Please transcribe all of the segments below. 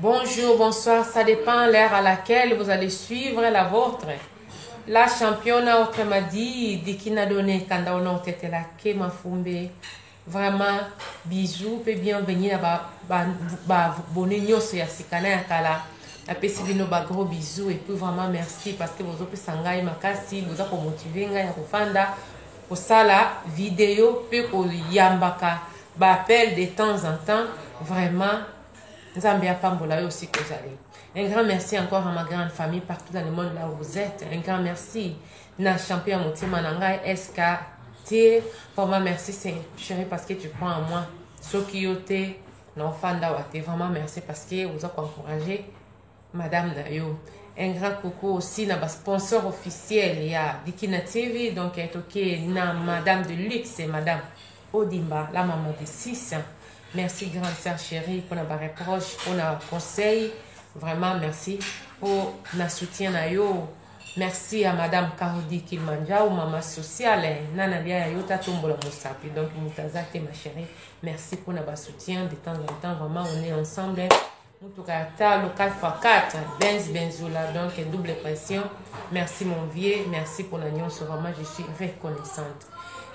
Bonjour, bonsoir, ça dépend l'heure à laquelle vous allez suivre la vôtre. La championne a autrement dit, dit qui n'a donné quand on a été là, que ma fumbe. Vraiment, bisous, pe bienvenue à ba, ba, ba, bonne union sur Yasikana Yakala. napesi bino ba gros bisous et puis vraiment merci parce que bozopesa ngai makasi boza komotive ngai ya kofanda kosala video mpe koyambaka ba appel de temps en temps vraiment Nzambe apambola yo aussi kozali. Un grand merci encore à ma grande famille partout dans le monde là où vous êtes. Un grand merci na champion motema na ngai SK tie vraiment merci c'est chérie parce que tu crois en moi. Soki yo te na ofanda wa te vraiment merci parce que vous a encourager madame na yo un grand coucou aussi na ba sponsor officiel ya dikina tv donc toke na madame de luxe madame odimba la maman de 6 merci grande sœur chérie mpona ba reproche mpona conseil vraiment merci mpo na soutien na yo merci à madame carodi kilmanjao mama sociale na nalia ya yo tatombola mosapi donc moto aza te ma chérie merci mpona ba soutien de temps en temps vraiment on est ensemble Mutuka ya talo 4x4 Benz Benzula donc double pression. Merci mon vieux, merci pour la nyonso vraiment je suis reconnaissante.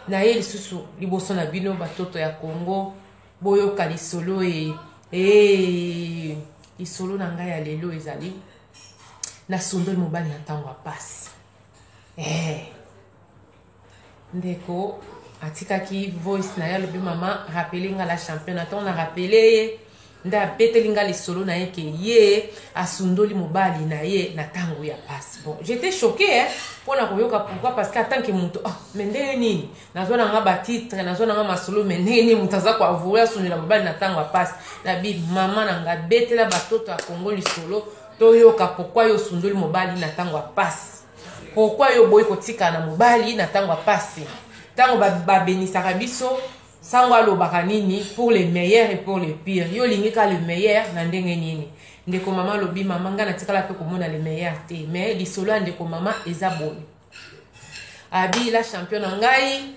Na ye lisusu liboso na bino batoto ya Congo boyoka lisolo e e lisolo na ngai ya lelo ezali nasundoli mobali na ntango ya mpasi eh. Ndeko atikaki voice na ye alobi mama rappele nga la championa ntango na rappele ye nde abeteli nga lisolo na ye ke ye asundoli mobali na ye na ntango ya pasi bon j'étais choqué hein mpo na koyoka pourquoi parce que atanke moto ah mais ndenge nini nazwa na nga batitre nazwa na nga masolo mais ndenge nini moto aza koavoue asundela mobali na ntango ya pasi na bi mama na nga betela batoto ya kongo lisolo toyoka pourquoi yo osundoli mobali na ntango ya pasi Pourquoi yo oboyi kotikala na mobali na tango ya pasi? Tango ba, ba benisaka biso, sango alobaka nini pour le meilleur et pour le pire. Yo olingi ka le meilleur na ndenge nini? Ndeko mama lobi mama nga natikala pe komona le meilleur te. Mais lisolo ya ndeko mama eza boye. Abi la champion na ngai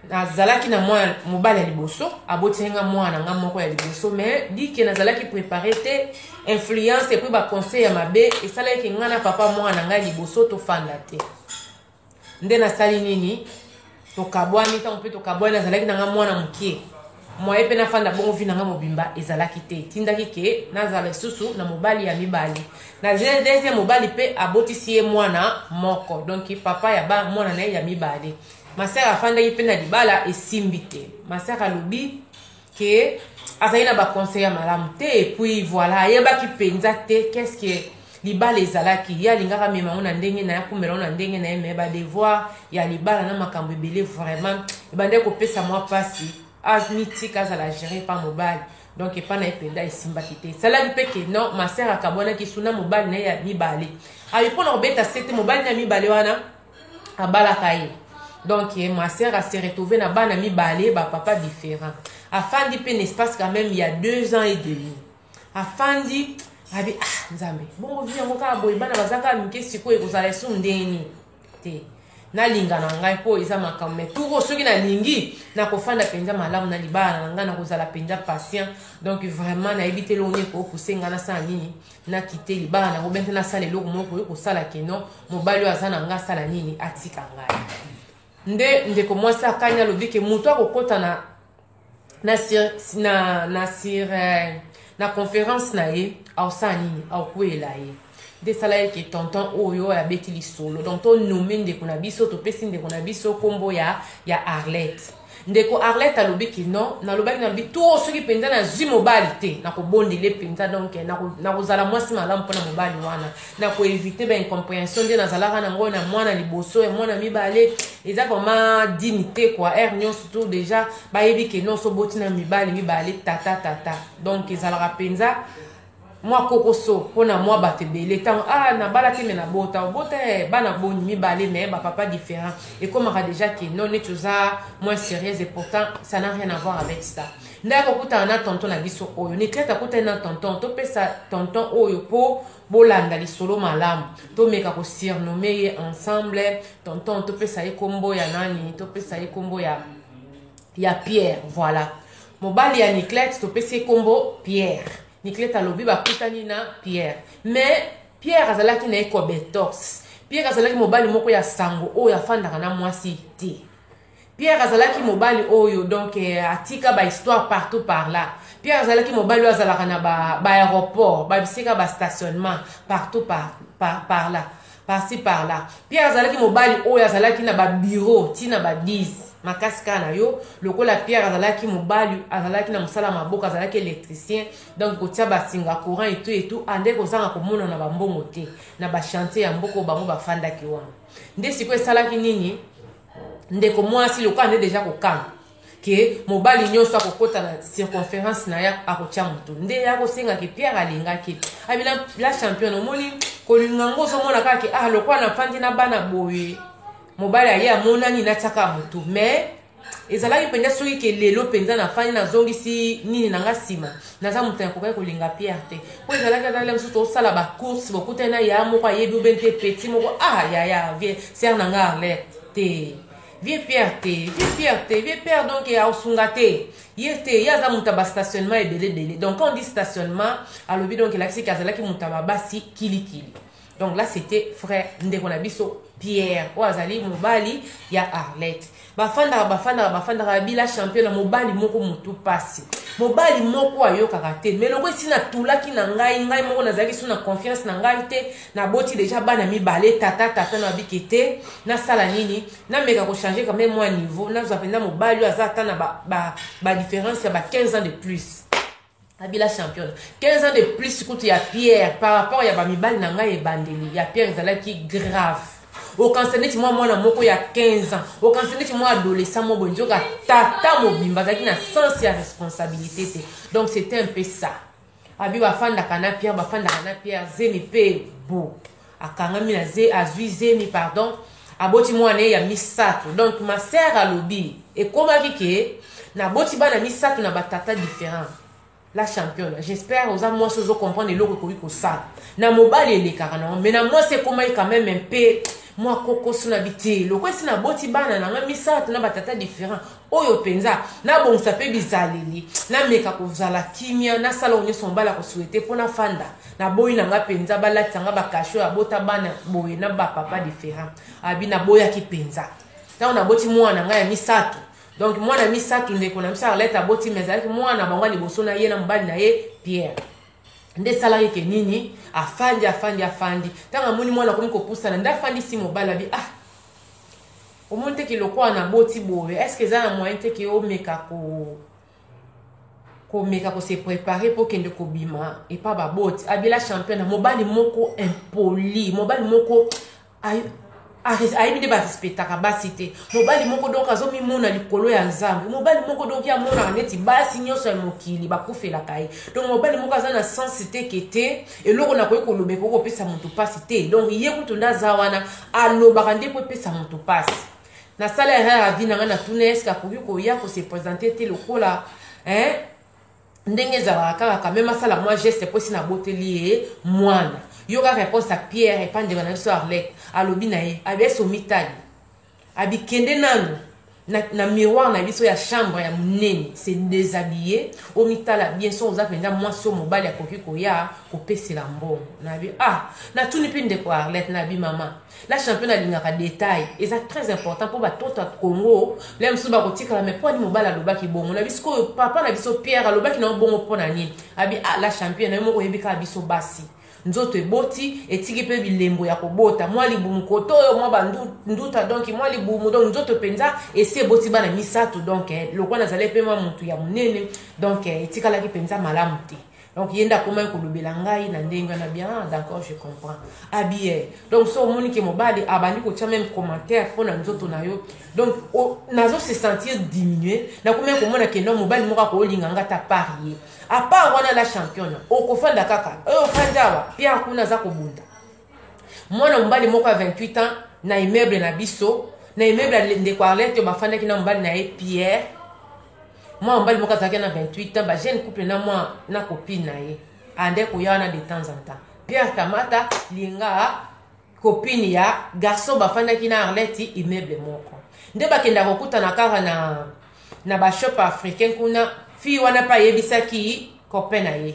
nazalaki na mwana mobali ya liboso aboteli nga mwana na nga moko ya liboso mais dike nazalaki prépare te influence epuis baconseil ya mabe esalaki ke ngai na papa mwana na ngai liboso tofanda te nde nasali nini tokabwani ntango mpe tokabwani nazalaki na ngai mwana moke moye mpe nafanda bongo vi na ngai mobimba ezalaki te etindaki ke nazala lisusu na mobali ya mibali na deuxième mobali mpe abotisi ye mwana moko donk papa ya mwana na ye ya mibale Ma sœur afandaki pe na libala esimbi te. Ma sœur alobi que azali na ba conseils ya malamu te et puis voilà ayebaki penza te qu'est-ce que libala ezalaki. Ye alingaka amema ngo na ndenge na ye akumela ngo na ndenge na ye mais ba devoirs ya libala na makambo ebele vraiment ebandaki kopesa mwa pasi. Amitika azala gere pa mobali. donc epai na ye mpenza esimbaki te esalaki mpe ke non ma sœur akabwanaki su na mobali na ye ya mibale abi mpo na kobeta sete mobali na ya mibale wana abalaka ye donc eh, ma sœur a se retrouver na bana mibale ba papa différent afandi mpe n'espace quand même ya deux ans et demi afandi abi ah nzambe bongo vi yango kaka boye bana baza kaka mike sikoyo ekozala esu ndeni te nalinga na ngai mpo eza makambo mai turo soki nalingi nakofanda mpenza malamu na libala na ngai nakozala mpenza patient donc vraiment nayebi te longo nini koopuse ngai nasala nini nakite libala nango bente nasala eloko moko oyo kosala keno mobali oyo aza na ngai asala nini atika ngai nde ndeko mwasi akani alobi ke moto akokɔta na na na na sir eh, na conférence na ye aosala nini aokweyela ye nde esala ye ke tonton oyo abeti lisolo donc tonome ndeko na biso topesi ndeko na biso nkombo ya ya arlette Ndeko Arlette alobi que non, nalobaki nalobi too soki penza nazwi mobali te, nakobondela ye penza donc nakozala mwasi malamu mpo na mobali wana, na ko eviter ba incomprehension nde nazalaka na ngo na mwana liboso, ya mwana mibale eza vraiment digne te quoi, heure nyonso tout dejà bayebi que non oso oboti na mibali mibale tata tata donc ezalaka penza mwa kokoso mpo na mwa bato ebele ntango ah nabala te me nabota obota eh, bana boni mibale me bapapa différent ekomaka déjà ke no neti oza moins sérieuse et pourtant ça n'a rien à voir avec ça ndaya kokutana na tonton na biso oyo niklete akutani na tonton topesa tonton oyo mpo bolanda lisolo malamu tomeka kosurnome ye ensemble tonton topesa ye nkombo ya nani topesa ye nkombo ya ya pierre voilà Mobali ya Niclette topesi ye kombo Pierre. Niclette alobi bakutani na Pierre. Mais Pierre azalaki na ye cobetos. Pierre azalaki mobali moko ya sango oyo afandaka na mwasi te. Pierre azalaki mobali oyo donc eh, atika ba histoire partout par là. Pierre azalaki mobali oyo azalaka na ba, ba aéroport, ba bisika ba stationnement partout par, par, par là. par-ci par-là. Pierre azalaki mobali oyo azalaki na ba bureaux ti na ba 10 makasi kaka na yo lokola pierre azalaki mobali azalaki na mosala maboko azalaki électricien donc kotia basinga courant etu etu ande kozanga komona na bambongo te na bachantier ya mboka bango bafandaki wana nde sikoyo esalaki nini ndeko mwasi lokola nde deja kokanga ke mobali nyonso akokota na circonférence na ye akotya moto nde ye akosenga ke pierre alingaki abi ah, la championne omoni kolinga yango ozomona kaka ke ah lokola nafandi na bana boye mobali aye amonani natyaka motu mais ezalaki mpenza soki ke lelo mpenza nafandi nazongisi nini na nga nsima naza moto nakokaki kolinga pierre te mpo ezalaki ata mosusu tosala bacourse bokutani na ya moko ayebi obe nte peti moko ah yaya vie sere na nga arlete te Vieux Pierre te, vieux Pierre te, vieux Pierre donc ya osunga te. Ye te, ye aza muta ba stationnement ebele ebele. Donc quand on dit stationnement, alobi donc elakisi kazalaki muta ba basi kili kili. Donc là c'était frère ndeko na biso Pierre oyo azali mobali ya Arlette. Bafandaka bafandaka bafandaka bila champion na mobali moko mutu pasi. Mobali moko ayokaka te. Mais loko esi na tulaki na ngai, ngai moko nazalaki sous na confiance na ngai te. naboti deja bana mibale tata tata na babike te nasala nini nameka kochange quand même mwa niveau nazwa mpenza mobali oyo aza ata na badifference ba, ba ya ba 15 ans de plus abila championne 15 ans de plus kutu ya pierre par rapport ya bamibali na ngai ebandeli ya pierre ezalaki grave okanisa neti mwa mwana moko ya 15 ans okanisa neti mwa adolescent moko boye nzoka tata mobimba azalaki na sens ya responsabilité te donc c'était un peu ça abi bafandaka na pierre bafandaka na pierre zemi mpe bo akangami na ze azwi zemi pardon aboti mwana ye ya misato donc ma sœur alobi ekomaki ke naboti bana misato na batata différent la championne j'espère oza mwasi ozo comprendre eloko ekoki kosala na mobali elekaka nango mais na mwasi ekomaki quand même mpe mwa kokoso na bite loko esi naboti bana na nga misato na batata différent oyo mpenza nabongisa mpe bizaleli nameka kozala kimia nasala oyo nyonso mobali akosuete mpo nafanda naboyi na nga mpenza balatisa nga bakashe oyo abota bana boye na bapapa different abi naboyaki mpenza ntango naboti mwana na ngai ya misato donc mwana ya misato ndeko na biso arlete aboti ma ezalaki mwana bango liboso na ye na mobali na ye pierre nde esalaki ke nini afandi afandi afandi ntango amoni mwana akomi kopusana nde afandisi mobali abi ah omoni te ke lokola naboti boye est ce que eza na moyen te ke omeka ko komeka ko se préparer mpo kende kobima epa baboti abila champion na mobali moko impoli mobali moko ayebi nde barespectaka basi te mobali moko donk azomimona likolo ya nzambe mobali moko donk ye amonaka neti basi nyonso ya mokili bakufelaka ye donk mobali moko aza na sense te ke te eloko nakoki koloba ekoki kopesa moto mpasi te donc ye kutu nde aza wana alobaka nde mpo epesa moto mpasi nasala erreur ya vie na ngai natuna eske akoki koya kose présente te lokola eh? ndenge ezalaka kaka kame masala mwa geste mpo esi naboteli ye mwana yoka réponse ya pierre epa ndeko na biso arlette alobi na ye abeso mitali Abi kende nanu na, na miroir na biso ya chambre ya munene se deshabiller omitala bien soki oza mpenza mwasi oyo mobali akoki koya kopesela mbongo na bi ah natuni mpe ndeko arlette na bi mama la champion alingaka detail eza très important mpo batoto ya congo le mosusu bakotikala mai mpo ani mobali alobaki bongo na biso oyo papa na biso pierre alobaki na yo bongo mpo na nini abi ah la champion na yo moko oyebi kaka biso basi Nzoto eboti, etiki pe bilembo ya kobota. Mwa libumu kote oyo, mwa ba nduta donc mwa libumu donc nzoto penza esi eboti bana misato donc lokola nazalaki pe mwa mutu ya munene donc etikalaki penza malamu te. Donc ye nde akomaki kolobela ngai na ndenge wana bien ah d'accord je comprends. Abi eh donc so omoni ke mobali abandi kotia meme commentaire mpo na nzoto na yo donc nazo se sentir diminuer nakomaki komona ke non mobali moko akolinga ngai ata par ye. A part wana la championne, okofanda kaka. Oyo eh, ofandi awa, Pierre kuna aza kobunda. Mwana mobali moko ya 28 ans na immeuble na biso, na immeuble ya ndeko Arlette oyo bafandaki na mobali na ye Pierre. Mwana mobali moko azalaki na 28 ans, ba jeune couple na mwa na copine na ye. Ande koya wana de temps en temps. Pierre Kamata, linga copine ya garçon bafandaki na arlette immeuble moko nde bakenda kokutana kaka na na bashop africain kuna fille wana mpe ayebisaki copain na ye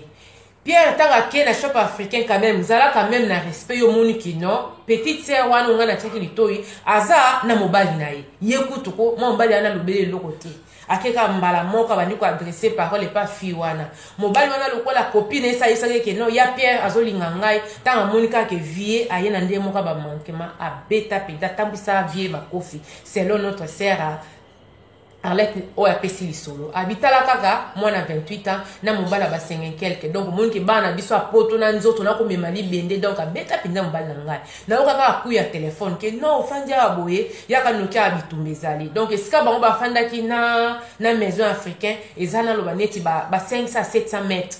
pierre ntango ake na shop africain quand même zalaka meme na respect yo omoni kino petite sœur wana onga natiaki litoi aza na mobali na ye ye kutuko mwa mobali wana alobeli eloko te Ake kaka mbala moko abandi ko adresser parole epa fille wana. Mobali wana lokola copine esalisaki ye ke non ya Pierre azolinga ngai tango amoni kaka ke vie aye na ndenge moko ya ba manquement abeta penza atambwisa vie makofi selon notre sœur Arlette oyo apesi lisolo abitala kaka mwana 28 ans na mobali ya ba 5 quelque donc omonike bana biso ya poto na nzoto nakomema libende donc abeta mpenza mobali na ngai Nayoka kaka coup ya telephone ke non ofandi awa boye yaka noki awa bitumba ezali donc esika bango bafandaki na na maison africain eza naloba neti ba, ba 500 à 700 mètres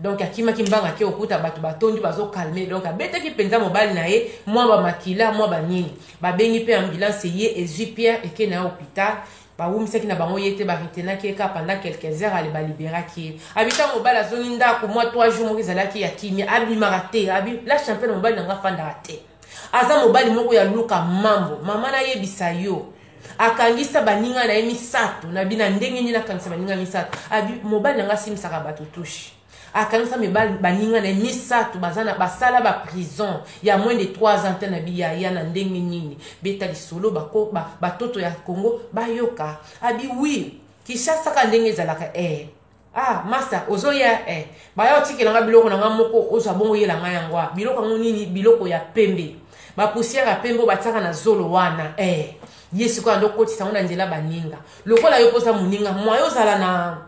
donc akimaki mbanga ake okuta bato batondi bazokalme donc abetaki mpenza mobali na ye mwa bamakila mwa banini babengi mpe ambulance ye ezwi pierre eke na ye hôpital Ba wumisaki na bango ye te, ba retenaki ye kaka pendant quelques heures, allez ba liberaki ye. Abi tango mobali azongi ndaku mua trois jours moko ezalaki ya kimia, abimaka te, abi la championne mobali na nga afandaka te. Aza mobali moko ya luka mambo, mama nayebisa yo, akangisa baninga na ye misatu, na bina ndenge nini akangisa baninga misatu, abi mobali na nga asimbisaka batu touche. Akanisa mibali baninga na ye misato baza na basala ba prison ya moins de 3 ans te na biyaya na ndenge nini? Beta lisolo bako ba batoto ya Congo bayoka. Abi oui Kinshasa kaka ndenge ezalaka ee. Ah masta ozoya ee. Baya otikela nga biloko na nga moko ozwa bongo yela nga yango a. Biloko yango nini? Biloko ya pembe. Ba poussière ya pembe batiaka na zolo wana ee. Ye sikoyo ando kotisa yango na nzela baninga. Lokola yo poza moninga, moyen ozala na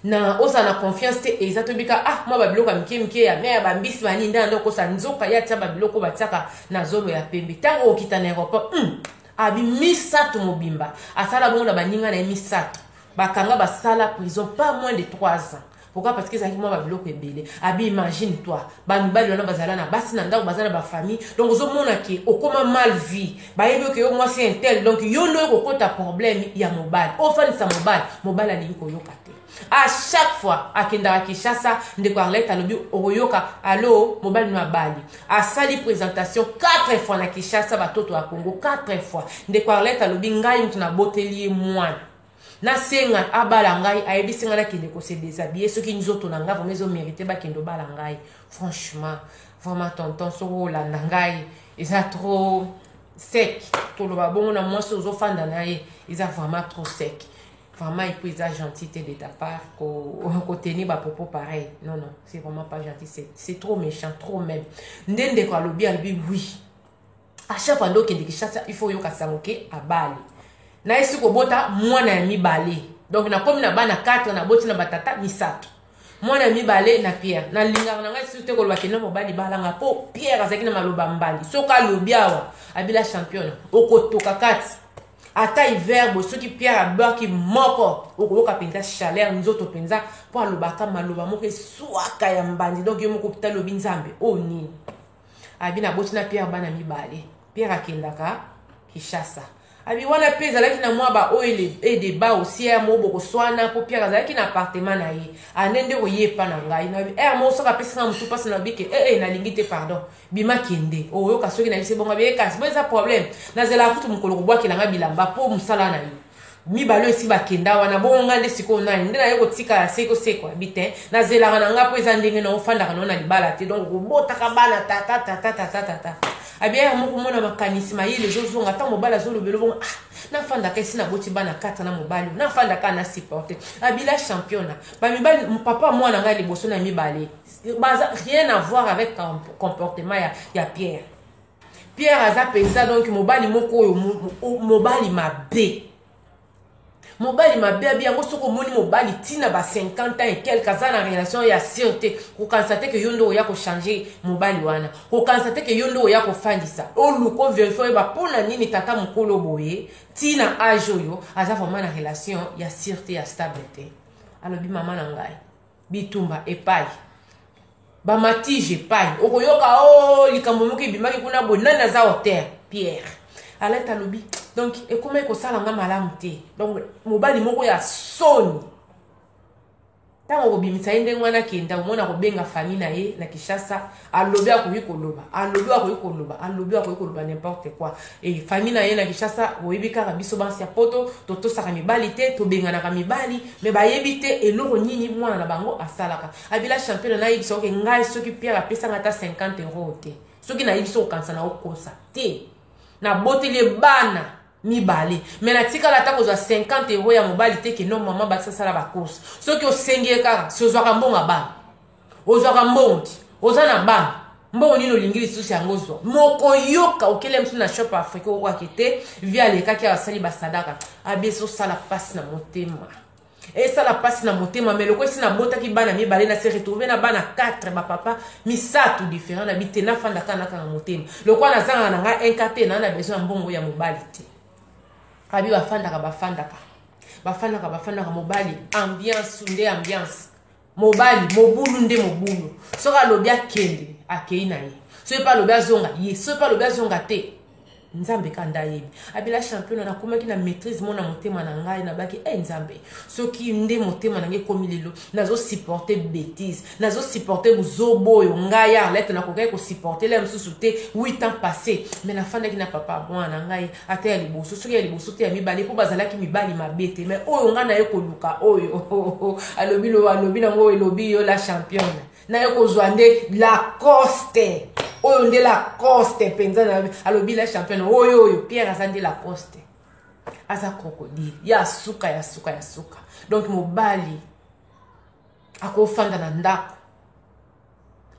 na ozala na confiance te eza tobika ah mwa babiloko ya mike mike ya mare bambisi banini nde nanda okosa nzoka ye atia babiloko batiaka na zolo ya pembe ntango okita na aéroport mm, abi misato mobimba asala bongo na baninga na ye misato bakanga basala prison pas moins de 3 ans pourquoi parce que ezalaki mwa babiloko ebele abi imagine toi bamibali wana bazala na basi na ndako baza na bafamille donc ozomona ke okoma mal vie bayebi oke yo mwasi intel donc yo nde oyo kokota problème ya mobali ofandisa mobali mobali alingi koyoka te a chaque fois akendaka kinshasa ndeko arlete alobi okoyoka alo mobali no abali asali présentation 4 fois na kinshasa batoto ya congo 4 fois ndeko arlete alobi ngai moto naboteli ye mwana Nasenga abala ngai ayebisi ngai nakende ko se deshabiller soki nzoto na ngai vraiment ezo merite bakende obala ngai franchement vraiment tonton soki olanda ngai eza trop sec toloba bongo na mwasi ozofanda na ye eza vraiment trop sec vraiment epuis eza gentil te de ta part kotenir bapropos pareil non non c'est vraiment pas gentil c'est trop méchant trop même nde ndeko alobi alobi oui A chaque fois nde okende Kinshasa il faut oyoka sango ke abali. Na esi kobota mwana ya mibale. Donc nakomi na bana 4 naboti na ba tata misato. Mwana ya mibale na Pierre. Na lingaka na ngai lisusu te koloba ke na mobali bala nga po Pierre azalaki na maloba mbandi. Soki alobi awa abila champion okotoka kati. Ata hiver bo soki Pierre abwaki moko okoyoka penza chaleur nzoto penza po alobaka maloba moko eswaka ya mbandi. Donc yo moko pita lobi nzambe oyo oh, nini? abi naboti na pierre bana mibale pierre akendaka kishasa abi wana mpe ezalaki na mwa baoyo edeba osi ere moko bokoswana mpo pierre azalaki na appartement na ye ane nde koye epa na ngai nabi ere eh, moko soki apesi ngai motu mpasi nabi ke ee eh, eh, nalingi te pardon bima kende oyoka soki nayebisi bongo abi ekasi bo eza problème nazelaka kutu mokolo kobwakela ngai bilamba mpo mosala na ye mibale oyo esi bakenda wana bongo ngai nde sikoyo nani nde naye kotikala se kosekwa bi te nazelaka na ngai mpo eza ndenge na ofandaka nao na libala te donc kobotaka bana tata tata tata tata abia ya moko mona makanisi mayele ezozonga ntango mobali azolobela bongo ah nafandaka esi naboti bana kata na mobali oyo nafandaka na supporte abila championa bamibali papa mwana ngai liboso na mibale baza rien avoir avec comportement ya, ya pierre Pierre aza penza donc mobali moko oyo mobali mabe. mobali mabe abi yango soki omoni mobali ntina ba 50 ans et quelque aza na relation ya sur te kokanisa te ke yo nde oya kochange mobali wana kokanisa te ke yo nde oya kofandisa oluka overifie oyeba mpo na nini tata mokolo boye ntina age oyo aza vraiment na relation ya sur te ya stable te alobi mama na ngai bitumba epai bamatije epai okoyoka o oh, likambo moko ebimaki kuna boye nani aza hotel pierre alete alobi donc ekomaki kosala nga malamu te donc mobali moko ya soni ntango okobimisa ye ndenge wana akenda omona kobenga fami na ye na kinshasa alobi akoki koloba alobi akoki koloba alobi akoki koloba n'importe quoi e famille na ye na kinshasa boyebi kaka biso bansi ya poto totosaka mibali te tobenganaka mibali me bayebi te eloko nini mwana na bango asalaka abila champion nayebisa oke ngai soki pierre apesanga ata 50 euro te soki nayebi so kokanisa na okosa te naboteli ye bana mibale me natikala ata kozwa 50 euro ya mobali te keno mama bakisasala bacourse soki osengi ye kaka si ozwaka mbongo ya bana ozwaka mbongo ti oza na bana mbongo nini olingi lisusu yango ozwa mokoyoka okele mosusu na shop afrika okokwake te vi alekaki asali basadaka abesi osala mpasi na motema esala mpasi na motema me loko esi nabotaki bana mibale na se retrouve na bana 4 bapapa misato différent na bi te nafanda kaka nakanga motema lokola nazangaka na ngai inka te naa na besoin ya mbongo ya mobali te abi bafandaka bafandaka bafandaka bafandaka mobali ambiance nde ambiance mobali mobulu nde mobulu soki alobi akende akei na ye soki mpe alobi azonga ye soki mpe alobi azonga te nzambe kanda ayebi abila championa nakomaki na maîtrise mona motema na ngai nabaki e hey, nzambe soki nde motema na ngai ekomi lelo nazosupporte bétise nazosupporte buzobo oyo ngai ya arlete nakokaki kosupporte la mosusu te 8 ans passé mais nafandaki na papa mwana na ngai ata ya liboso soki ya liboso te ya mibale mpo bazalaki mibali mabe te mai oyo ngai naye koluka oyo oh, oh, oh, alobi lo alobi nango oyo elobi yo la championne naye kozwa nde lacoste oyo nde lacoste mpenza alobi la championne oyo oyo pierre aza nde lacoste aza crocodile ya suka ya suka ya suka donc mobali Akofanda na ndako.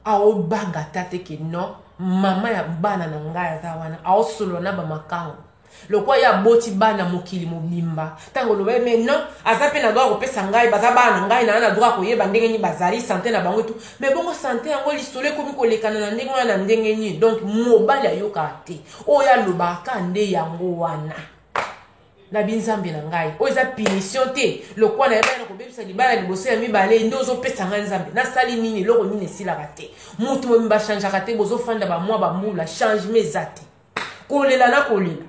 Aobanga ata te ke non mama ya bana na ngai aza wana. Aosolola na bamakango. Lokwa ye aboti bana mokili mobimba. Tango oloba ye mais non aza pe na droit kopesa ngai baza bana na ngai na na droit koyeba ndenge nini bazali sante na bango etu. Mais bongo sante yango lisolo ekomi kolekana na ndenge wana na ndenge nini? Donc mobali ayokaka te. Oyo alobaka nde yango wana. na bi nzambe na ngai oyo eza punition te lokwa na yebani na kobebisa libala liboso ya mibale nde ozopesa ngai nzambe nasali nini eloko nini esilaka te motu mobimba achangeaka te bozofanda bamwa bambula changement eza te kolela na kolela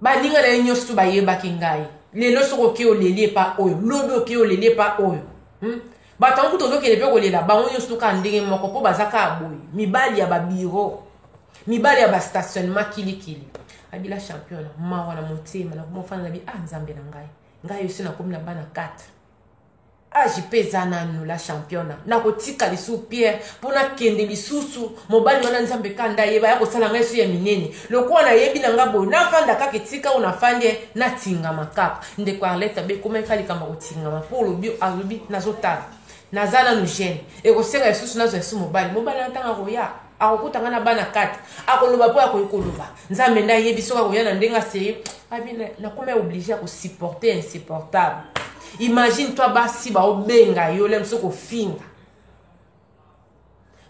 baninga na ye nyonso to bayebaki ngai lelo soki okei oleli epa oyo lobi okei oleli epa oyo hmm? Bato yango kutu ozokende mpe kolela bango nyonso kaka ndenge moko mpo baza kaka boye mibali ya babiro mibali ya bastationnement kilikili abila champion mawa na motema nakoma ofanda na bi ah nzambe na ngai ngai osi nakomi na bana 4 age mpe eza nanu la championa nakotika lisusu pierre mpo nakende lisusu mobali wana nzambe kanda ayeba ya kosala ngai su ya minene lokola nayebi na ngai boye nafanda kaka etika oyo nafandi natingama kaka Ndeko Arlette abe komaki ka likambo ya kotingama mpo olobi alobi nazotala naza nanu jeune ekosenga lisusu nazwa esu mobali mobali na ntango akoya akokuta ngai na bana kati akoloba mpo akoki koloba nzambe nde ayebi soki akoya na ndenge aseye abi nakoma oblige ya kosupporte insupportable imagine toi basi baobenga yo lem soki ofinga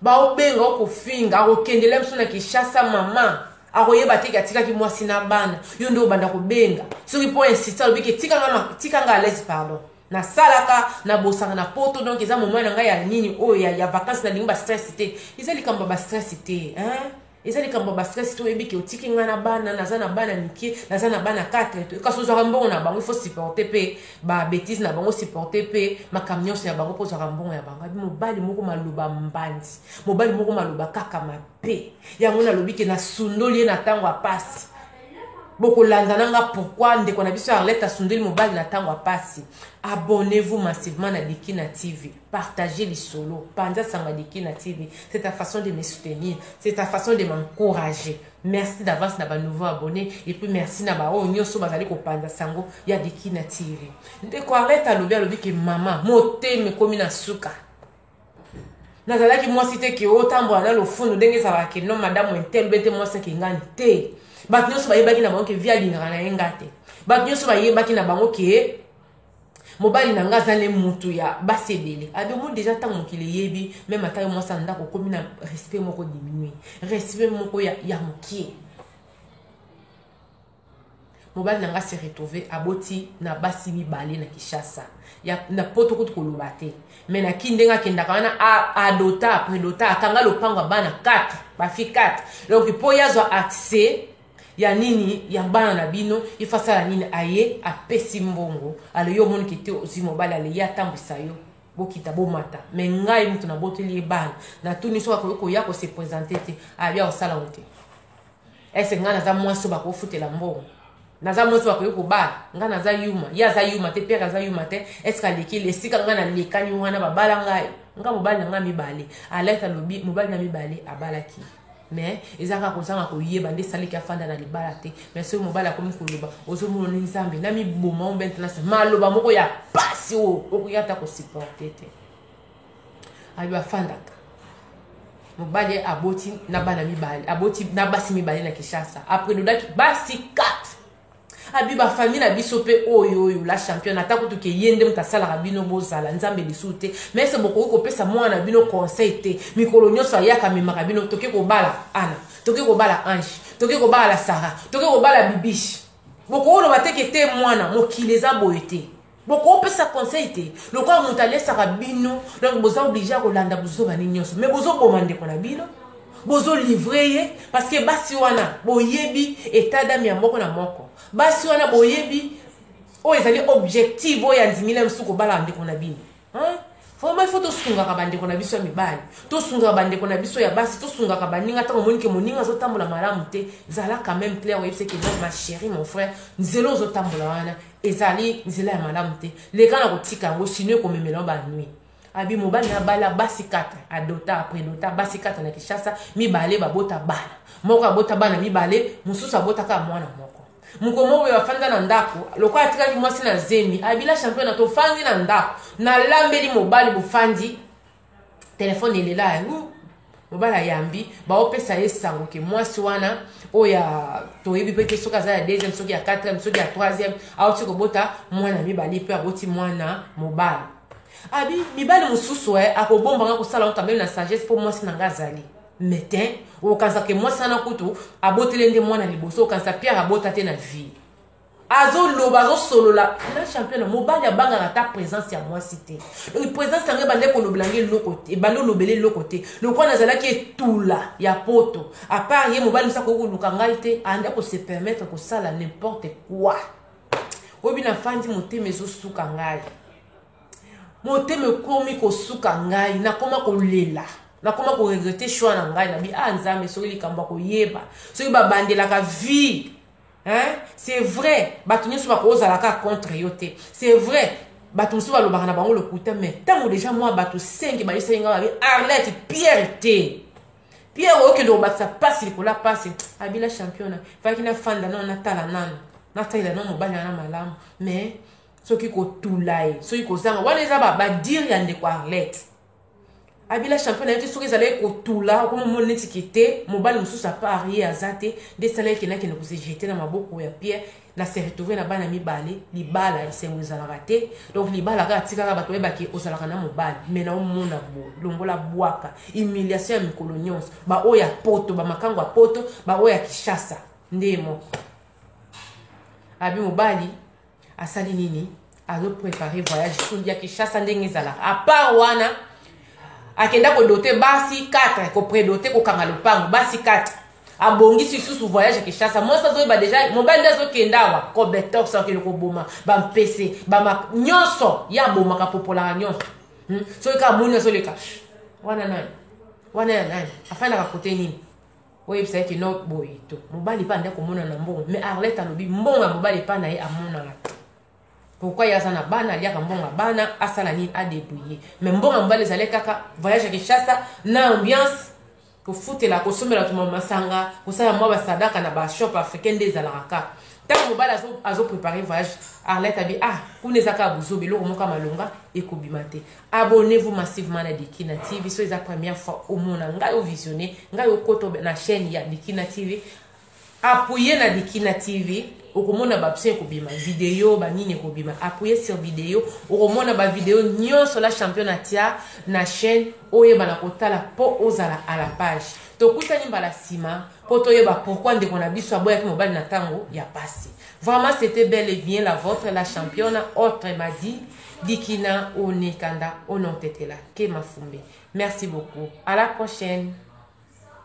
baobenga okofinga akokendela biso na kinshasa mama akoyeba te ke atikaki mwasi na bana yo nde obanda kobenga soki mpo insiste alobi ke tika nga alaise pardon nasalaka nabosaka na poto donk eza moman na ngai ya nini oyo ya, ya vakanse nalingi bastress te eza likambo ya bastress te hein? Eza likambo ya ba stress te oyebi ke otiki nga na bana naza na bana mike naza na bana 4 kasi ozwaka mbongo na bango il faut supporter pe ba betise na bango supporter pe makambo nyonso ya bango mpo ozwaka mbongo ya bango abi mobali moko maloba mbandi mobali moko maloba kaka mabe yango nalobi ke nasundoli ye na ntango ya pasi bokolanda na nga pourkui ndeko na biso ya arlete asundoli mobali na ntango ya pasi abonnez vous massivement na dikina tv Partager lisolo, panza sanga de kin na TV, c'est ta façon de me soutenir, c'est ta façon de m'encourager. Merci d'avance na ba nouveaux abonnes et puis merci na ba oyo nyoso bazali ko panza sango ya de kin na TV. Ndeko arrête alobi alobi ke mama motema ekomi na suka. nazalaki mwasi te ke otambola na lofundo ndenge ezalaka ke no madame intel bete mwasi ake ngani te bato nyonso bayebaki na bango ke vi alingaka na ye nga te bato nyonso bayebaki na bango ke Mobali na nga aza ne mutu ya basi ebele. Ado omoni dejà tango mokili eyebi meme ata yo mwasi ya ndako okomi na respect moko diminue. Respect moko ya ya mukie. Mobali na nga se retrouve aboti na basi mibale na Kinshasa. Ya na poto kutu koloba te. Mais na kin ndenge akendaka wana a adota, predota, akanga lopango ya bana 4, ba filles 4. Donc po ye azwa accès Ya nini ya bana na bino ye faut asala nini aye apesi mbongo ale yo omoni ke te ozui mobali ale ye atambwisa yo bokita bomata mais ngai mutu naboteli ye bana natuni soki akoki koya ko se presente te abi akosala ngo te ese ngai naza mwasi oyo bakofutela mbongo naza mwasi bakoki kobala ngai naza yuma ye aza yuma te pierre aza yuma te eske alekeli esika ngai nalekani wana babala ngai ngai mobali na ngai mibale alaki alobi mobali na mibale abalaki mais eza kaka kozanga koyeba nde esaleki afanda na libala te mais soki mobali akomi koloba ozomona ni nzambe na miboma o maintenance maloba moko ya pasi oyo okoki ata kosupporte te ayo afandaka mobali aboti na bana mibale aboti na basi mibale na kishasa apredodaki basi 4 abi ba famille na biso mpe oyo oyo la championne ata kutu ke ye nde moto asalaka bino bozala nzambe lisusu te mais se bokoki kopesa mwana na bino conseil te mikolo nyonso ayaka amemaka bino toke kobala ana toke kobala ange toke kobala la sara toke kobala bibiche bokooloba teke te mwana mokili eza boye te Boko pesa conseil te lokola mutu alesaka bino donc boza oblige ya kolanda buzoba ni nionso mais bozo boma ndeko na bino bozo livre ye parce que basi wana boyebi etat d'ame ya moko na moko basi wana boyebi oyo ezali objectif oyo andimi na mosusu kobalaka ndeko na bino hein? vraimen il faut tosungaka bandeko na biso ya mibali tosungaka bandeko na biso ya basi tosungaka baninga ntango omoni ke moninga azotambola malamu te zala quand même claire oyebiseke non ma chérie mon frère nzela ozotambola wana ezali nzela ya malamu te leka na kotika yango sino ekomemela yo banui abi mobali na bala basi 4 adota apredota basi 4 na kinshasa mibale babota bana moko abota bana mibale mosusu abotaka mwana moko mokolo moko oyo afanda na ndako lokola atikaki mwasi na zemi abila championa tofandi na ndako nalambeli mobali bofandi telefone elela yango mobali ayambi baopesa ye sango ke mwasi wana oyo ya toyebi mpe te soki aza ya deuxième soki ya quatrième soki ya troisième auti kobota mwana mibali mpe aboti mwana mobali abi mibali mosusu e akobombanga kosala ngo kameme na sagesse mpo mwasi na ngai azali metin okanisa ke mwasi wana kutu abotele nde mwana liboso okanisa pierre abota te na vie azo loba azo solola na champion mobali abangaka ata presence ya mwasi te donc presence yango ebande kolobela nge eloko te ebande olobela eloko te lokola nazalaki etula ya poto apart ye mobali mosi akoki koluka ngai te ande kose permettre kosala n'importe quoi oyebi na fandi motema ezosuka ngai motema ekomi kosuka ngai nakoma kolela nakoma koregrete choix na ngai nabi a ah, nzambe soki likambo akoyeba soki babandelaka vie Hein? C'est vrai, bato nyoso bakozala kaka contre yo te. C'est vrai, bato mosusu balobaka na bango lokuta, mais ntango deja mwa bato sengi bayisaki ngai babi Arlette Pierre te. Pierre okende kobakisa mpasi likolo ya mpasi, abila championa, faki nafanda nano natala nano, natalela nano mobali wana malamu, mais soki kotula ye, soki kozanga, wana eza badire ya ndeko Arlette. abila champion na ye te soki ezalaki kotula okoma moni neti ke te mobali mosusu apart ye aza te nde esalaki kende akende kosejete na maboko ya pierre na se retrouve na bana mibale libala esengo ezalaka te donc libala kaka tikaka bato bayebake ozalaka na mobali mai na omona bo longola bwaka humiliation ya mikolo nyonso baoyo ya poto bamakango ya poto baoyo ya kishasa nde moko abi mobali asali nini azo prepare voyage sondi ya kinshasa ndenge ezalaka apart wana akenda kodote basi 4 kopredote kokanga lopango basi 4 abongisi lisusu voyage ya kinshasa mwasi azoyeba deja mobali nde azokenda awa kobetox akende koboma bampese bama nyonso ye abomaka popolaka nyonso hmm? soki kaka moni azoleka wana nani wana ya nani afandaka kote nini oyebisa ke no boye to mobali mpe anda komona na mbongo mais arlette alobi mbongo ya mobali epai na ye amonana te pourkui ye aza na bana aliaka mbongo ya bana asala nini adebrouille mais mbongo ya mobali ezali kaka voyage ya kinshasa na ambiance kofutela kosombela tuma masanga kosala mwa basadaka na bashop africain nde ezalaka kaka ntango mobali azoprepare voyage arlette abi ah kuna eza kaka bozoba eloko moko ya malonga ekobima te Abonnez vous massivement na Dikina TV soki eza première fois omona ngai ovisionne ngai okota na chaîne ya Dikina TV appuye na Dikina TV okomona babso ekobima video banini ekobima appuye sur video okomona bavideo nyonso la champion atia na chaîne oyebana kotala mpo ozala à la page tokutani mbala nsima mpo toyeba pourkui ndeko na biso aboyaki mobali na ntango ya pasi vraiment c'était belle et bien la vôtre la championa autre madi Dikina one kanda one otetela ke mafumbe merci beaucoup à la prochaine.